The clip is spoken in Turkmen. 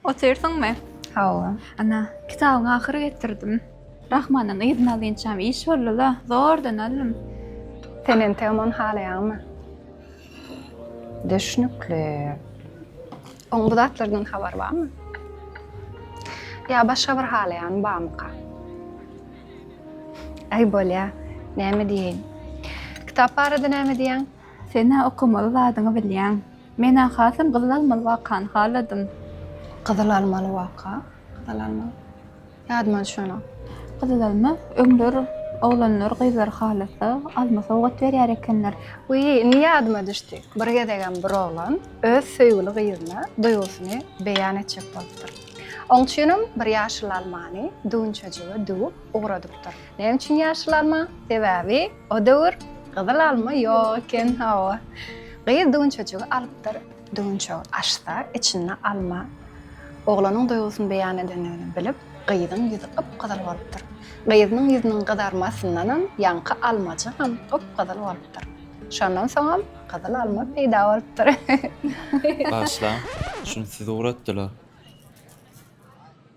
Otyrsyňmy? Hawa. Ana, kitabyň ahyry getirdim. Rahmanyň yzyny alynçam iş boldy-la, zordan aldym. Sen entegem ony halaýaňmy? Düşnükli. Oň bu zatlardan habary barmy? Ýa başga bir halaýany barmyka? Aý, bolýa. Näme diýeýin? Kitap barada näme diýýäň? Sen-ä okamaly zadyňy bilýäň. Men-ä hasam gyzyl almaly wakany haladym. Gyzyl almaly waka? Gyzyl almaly. Ýadyma düşenok. Gyzyl alma, öňler oglanlar gyzlary halasa, alma sowgat berýär ekenler. Wiý, indi ýadyma düşdi. Bir gezegem bir oglan öz söýgüli gyzyna duýgusyny beýan etjek bolupdyr. Oň üçinem bir ýaşyl almany düwünçejige düwüp ugradypdyr. Näme üçin ýaşyl alma? Sebäbi O döwür gyzyl alma ýok eken, hawa. Gyz düwünçejigi alypdyr. Düwünçegi açsa, içinde alma. Oglanyň duýgusyny beýan edendigini bilip, gyzyň ýüzi gyp-gyzyl bolupdyr. Gyzynyň ýüzüniň gyzarmasyndanam ýaňky almajygam gyp-gyzyl bolupdyr. Şondan soňam gyzyl alma peýda bolupdyr. Bagyşlaň, şuny siz ugratdylar.